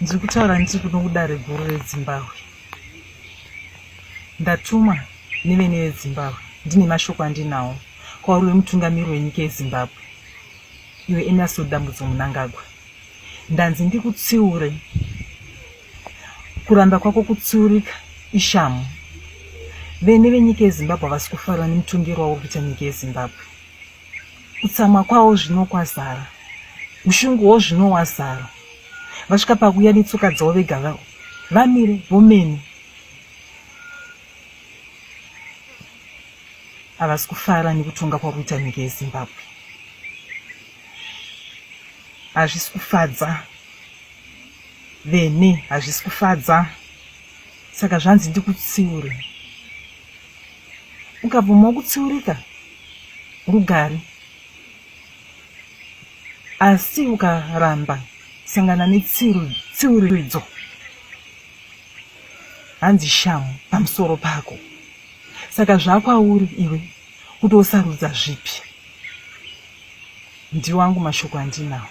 ndiri kutaura ndiri kuno kudare guru redzimbabwe ndatumwa nevene vedzimbabwe ndine mashoko andinawo kwauri wemutungamiri wenyika yezimbabwe iwe emerso dambudzo munangagwa ndanzi ndikutsiure kuramba kwako kutsiurika ishamu vene venyika yezimbabwe havasi kufarwa nemutongero wauri kuita nyika yezimbabwe Kutsamwa kwawo zvino kwazara, ushungu wo zvino wazara. Vasvika pakuya netsoka dzavo vega vavo vamire vomene havasi kufara nekutonga kwari kuita nyika yezimbabwe hazvisi kufadza vene hazvisi kufadza saka zvanzi ndikutsiure ukabvumawo kutsiurika rugare asi ukaramba sangana netsiuridzo hanzi shamu pamusoro pako saka zvakwauri iwe kuti wosarudza zvipi ndiwangu mashoko andinawo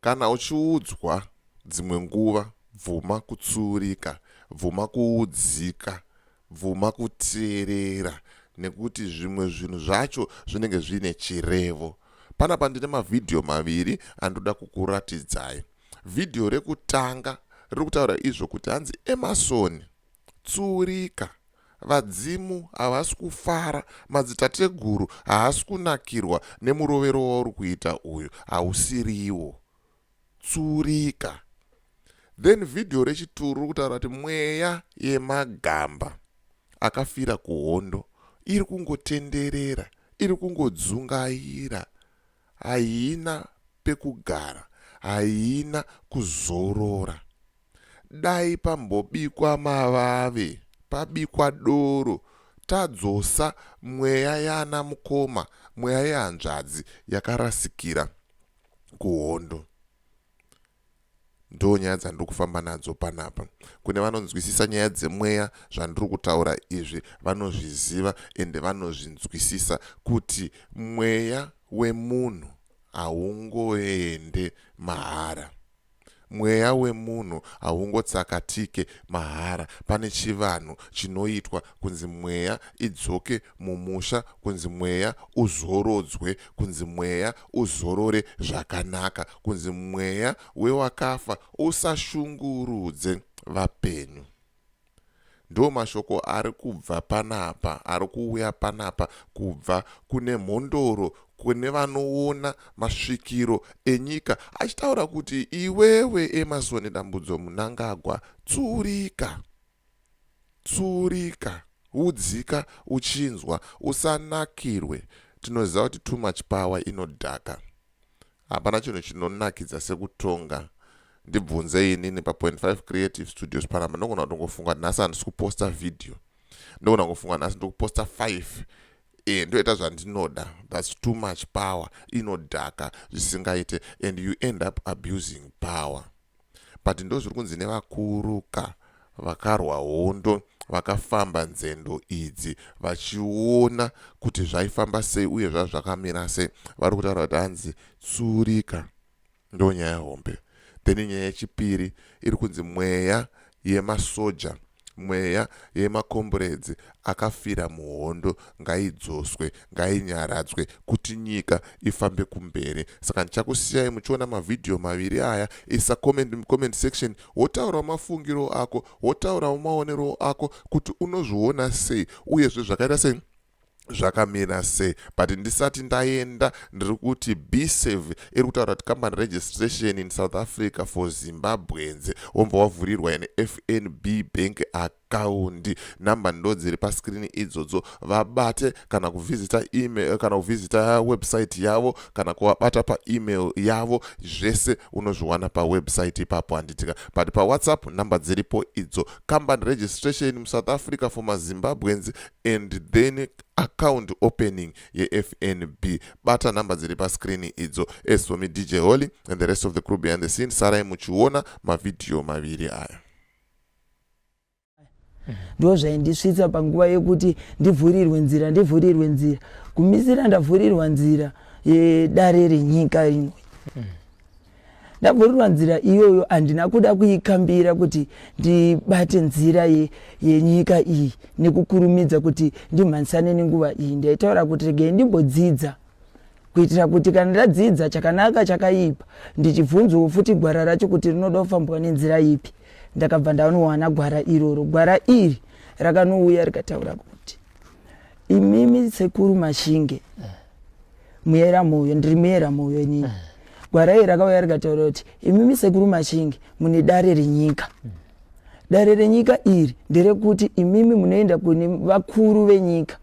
Kana uchiudzwa dzimwe nguva bvuma kutsuurika, bvuma kuudzika, bvuma kuteerera nekuti zvimwe zvinhu zvacho zvinenge zviine chirevo. Panapa ndine mavhidhiyo maviri andoda kukuratidzai. Vhidhiyo rekutanga riri kutaura izvo kuti hanzi Emasoni Tsuurika. Vadzimu havasi kufara, madzitateguru haasi kunakirwa nemurovero wauri kuita uyu, hausiriwo. Tsuurika. Then video rechituru riri kutaura kuti mweya yemagamba akafira kuhondo iri kungotenderera, iri kungodzungaira, haina pekugara, haina kuzorora. Dai pambobikwa mavave pabikwa doro tadzosa mweya yana mukoma mweya yehanzvadzi yakarasikira kuhondo ndoo nyaya dzandiri kufamba nadzo panapa kune vanonzwisisa nyaya dzemweya zvandiri kutaura izvi vanozviziva ende vanozvinzwisisa kuti mweya wemunhu haungoende mahara Mweya wemunhu haungotsakatike mahara pane chivanhu chinoitwa kunzi mweya idzoke mumusha kunzi mweya uzorodzwe kunzi mweya uzorore zvakanaka kunzi mweya wewakafa usashungurudze vapenyu. ndo mashoko ari kubva panapa ari kuuya panapa kubva kune mhondoro kune vanoona masvikiro enyika achitaura kuti iwewe emasoni dambudzo munangagwa tsurika tsurika udzika uchinzwa usanakirwe tinoziva kuti too much power inodhaka Hapana chinhu chinonakidza sekutonga ndibvunze inini pa 5 creative studios panapa ndogona kutongofunga nhasi handisi kuposta video ndogona kungofunga nhasi ndiri kuposta 5 e ndoita zvandinoda thats too much power inodhaka zvisingaite and you end up abusing power but ndozviri kunzi nevakuru ka vakarwa hondo vakafamba nzendo idzi vachiona kuti zvaifamba sei uye zvazvo zvakamira sei vari kutaura kuti hanzi tsurika ndo nyaya hombe then nyaya yechipiri iri kunzi mweya yemasoja Mweya yemakomburedzi akafira muhondo ngaidzoswe, ngainyaradzwe kuti nyika ifambe kumberi. Saka ndichakusiyai muchiona mavhidhiyo maviri aya. Isa comment mucomment section wotaurawo mafungiro ako, wotaurawo maonero ako kuti unozviona sei uyezve zvakaita sei zvakamira sei but ndisati ndaenda ndiri kuti bsave iri kutaura kuti company registration in south africa for zimbabweans womva wavhurirwa ine fnb bank akaundi number ndo dziri paskrini idzodzo vabate kana kuvhizita email kana kuvhizita website yavo kana kuvabata paemail yavo zvese unozviwana pawebsite ipapo handitika but pawhatsapp number dziripo idzo company registration musouth africa for mazimbabweans and then account opening yefnb bata number dziri pascreen idzo as for me dj holy and the rest of the crew behind the scene sarai muchiona mavhidhiyo maviri aya ndo zvaindisvitsa panguva yekuti ndivhurirwe nzira ndivhurirwe nzira kumisira ndavhurirwa nzira yedare renyika rinoi mm. ndavhurirwa nzira iyoyo handina kuda kuikambira kuti ndibate nzira yenyika ye iyi nekukurumidza kuti ndimhanisane nenguva iyi ndaitaura kuti regei ndimbodzidza kuitira kuti kana ndadzidza chakanaka chakaipa ndichibvunzwawo futi gwara racho kuti rinoda kufambwa nenzira ipi ndakabva ndanowana gwara iroro gwara iri rakanouya rikataura kuti imimi sekuru mashinge muyera moyo ndiri muyera moyo inini eh. gwara iri rakauya rikataura kuti imimi sekuru machingi mune dare renyika mm. dare renyika iri nderekuti imimi munoenda kune vakuru venyika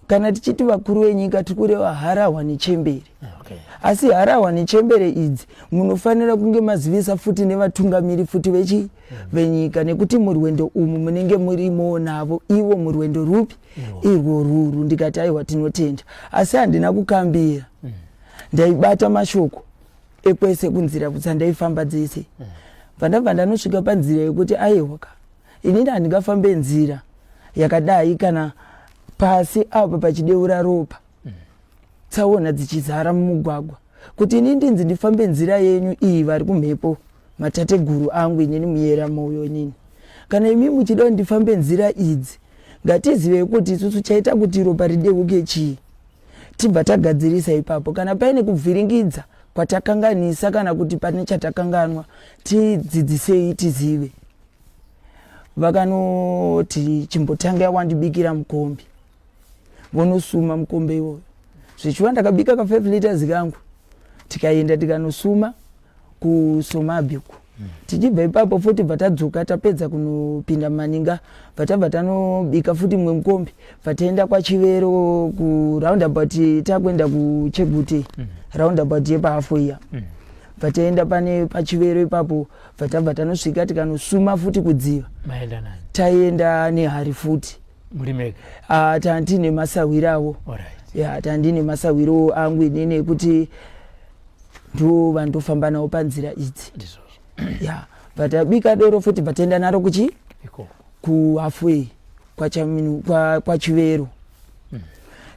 kana tichiti vakuru venyika tiri kureva harahwa nechembere okay. asi harahwa nechembere idzi munofanira kunge mazivisa futi nevatungamiri futi vechi venyika nekuti murwendo umu munenge murimo navo ivo murwendo rupi irwo ruru ndikati aiwa tinotenda asi handina kukambira mm. ndaibata mashoko ekwese kunzira kutsa ndaifamba dzese mm. pandabva ndanosvika panzira yekuti aiwa ka inini handingafambe nzira yakadai kana pasi apa pachideura ropa mm. tsaona dzichizara mumugwagwa kuti ini ndinzi ndifambe nzira yenyu iyi vari kumhepo mm. matateguru angu inini muyera mouyo inini kana imi muchida kuti ndifambe nzira idzi ngatizivei kuti isusu chaita kuti ropa rideuke chii tibva tagadzirisa ipapo kana paine kubviringidza kwatakanganisa kana kuti pane chatakanganwa tidzidzisei tizive vakanoti chimbotanga yawandibikira mukombi vonosuma mukombe iwoyo zvichiva ndakabika ka5 liters kangu tikaenda tikanosuma kusomabi uku tichibva ipapo futi bva tadzoka tapedza kunopinda maninga bva tabva tanobika futi mumwe mukombi bva taenda kwachivero kuroundabout takuenda kuchegute mm. roundabout yepahafo iya mm. bva taenda pane pachivero ipapo bva tabva tanosvika tikanosuma futi kudziva taienda nehari futi ah, tandine masahwiro avo ya tandine masahwiro angu inini ekuti ndovandofamba navo panzira idzi ya but abika doro futi bataenda naro kuchi kuhafway kwachivero mm.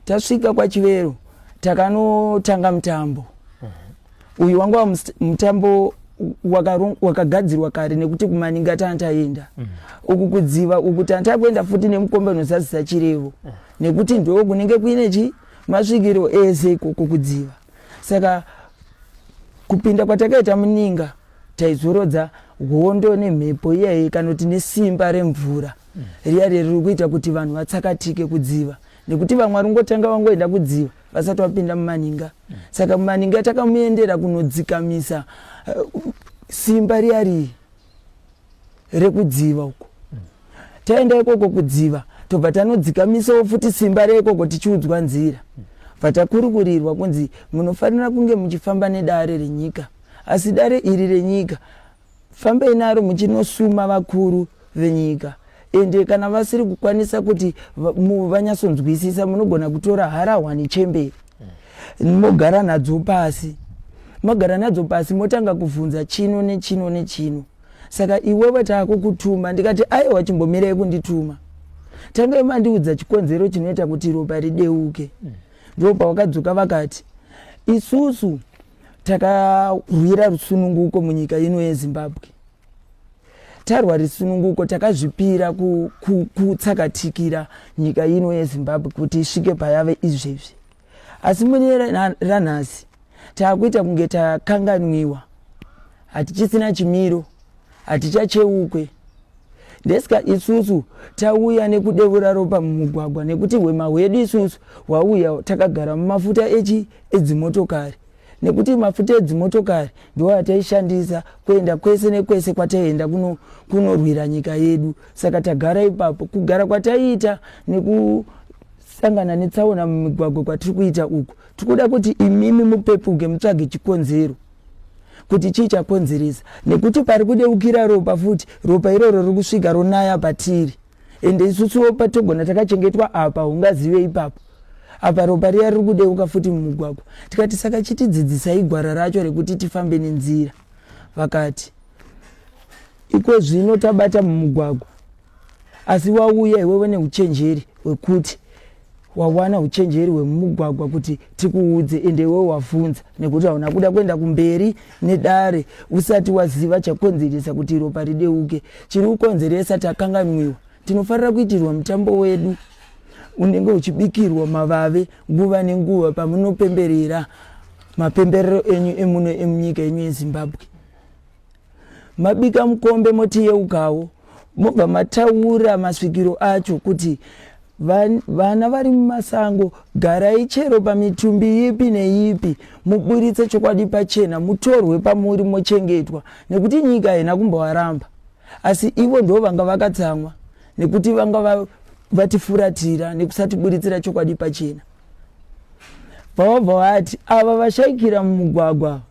tasvika kwachivero takanotanga mutambo mm-hmm. uyu wanga mutambo wakagadzirwa kare nekuti kumaninga tana taenda mm. uku kudziva uku tana takuenda futi nemukombe unozadzisa chirevo mm. nekuti ndoo kunenge kuine chi masvikiro ese ikoko kudziva saka kupinda kwatakaita muninga taizorodza hondo nemhepo iyayi kana kuti nesimba remvura riya riri kuita kuti vanhu vatsakatike kudziva nekuti vamwe vari kungotanga vangoenda kudziva vasati vapinda mumaninga saka mumaninga takamuendera kunodzikamisa eh, simba riya riyi rekudziva uko taenda ikoko kudziva tobva tanodzikamisawo futi simba reikoko tichiudzwa nzira bva takurukurirwa kunzi munofanira kunge muchifamba nedare renyika asi dare iri renyika fambai naro muchinosuma vakuru venyika ende kana vasiri kukwanisa kuti vanyatsonzwisisa munogona kutora harahwa nechemberi mm. mogara nadzo pasi mogara nadzo pasi motanga kuvhunza chino nechino nechino saka iwewe taakukutuma ndikati aiwa chimbomirei kundituma tangai mandiudza chikonzero chinoita kuti ropa rideuke mm. ndo pavakadzoka vakati isusu takarwira rusununguko munyika ino yezimbabwe tarwa risununguko takazvipira kutsakatikira nyika ino yezimbabwe kuti isvike payave izvezvi asi mune ranhasi taakuita kunge takanganwiwa hatichisina chimiro hatichacheukwe ndesika isusu tauya nekudevura ropa mumugwagwa nekuti hwema hwedu isusu hwauya takagara mumafuta echi edzimotokari nekuti mafuta edzimotokari ndiwo ataishandisa kuenda kwese nekwese kwataienda kunorwira kuno nyika yedu saka tagara ipapo kugara kwataiita nekusangana netsaona mumigwagwa kwatiri kuita uku tikuda kuti imimi mupepuke mutsvage chikonzero kuti chii chakonzeresa nekuti pari kudeukira ropa futi ropa iroro riri kusvika ronaya patiri ende isusuwo patogona takachengetwa apa ungazive ipapo apa ropa riya riri kudeuka futi mumugwagwa tikati saka chitidzidzisai gwara racho rekuti tifambe nenzira vakati iko zvino tabata mumugwagwa asi wauya iwewe neuchenjeri hwekuti wawana uchenjeri hwemumugwagwa kuti tikuudze ende iwewo wavhunza nekuti hauna kuda kuenda kumberi nedare usati waziva chakonzeresa kuti ropa rideuke chiri kukonzeresa takanganwiwa tinofanira kuitirwa mutambo wedu unenge uchibikirwa mavave nguva nenguva pamunopemberera mapemberero enyu emuno emunyika yenyu yezimbabwe mabika mukombe motiyeukawo mobva mataura masvikiro acho kuti vana vari mumasango garai chero pamitumbi ipi neipi muburitse chokwadi pachena mutorwe pamuri mochengetwa nekuti nyika haina kumbovaramba asi ivo ndo vanga vakatsamwa nekuti vanga vatifuratira nekusatiburitsira chokwadi pachena Vabva vati ava vashaikira mumugwagwa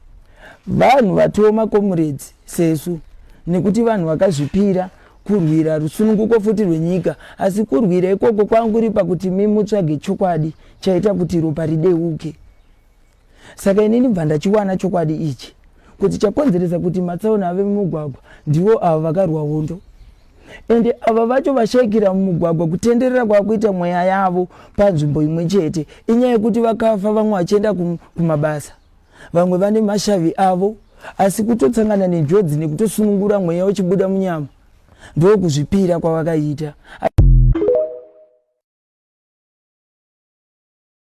vanhu vatiwo makomuredzi sesu nekuti vanhu vakazvipira kurwira rusununguko futi rwenyika asi kurwira ikoko kwanguri pakuti mimutsvage chokwadi chaita kuti ropa rideuke Saka ini ndibva ndachiwana chokwadi ichi kuti chakonzeresa kuti matsaona ave mumugwagwa ndivo ava vakarwa hondo ende ava vacho vashaikira mumugwagwa kutenderera kwakuita mweya yavo panzvimbo imwe chete inyaya yekuti vakafa vamwe vachienda kumabasa vamwe vane mashavi avo asi kutotsangana nenjodzi nekutosunungura mweya uchibuda munyama ndokuzvipira kwavakaita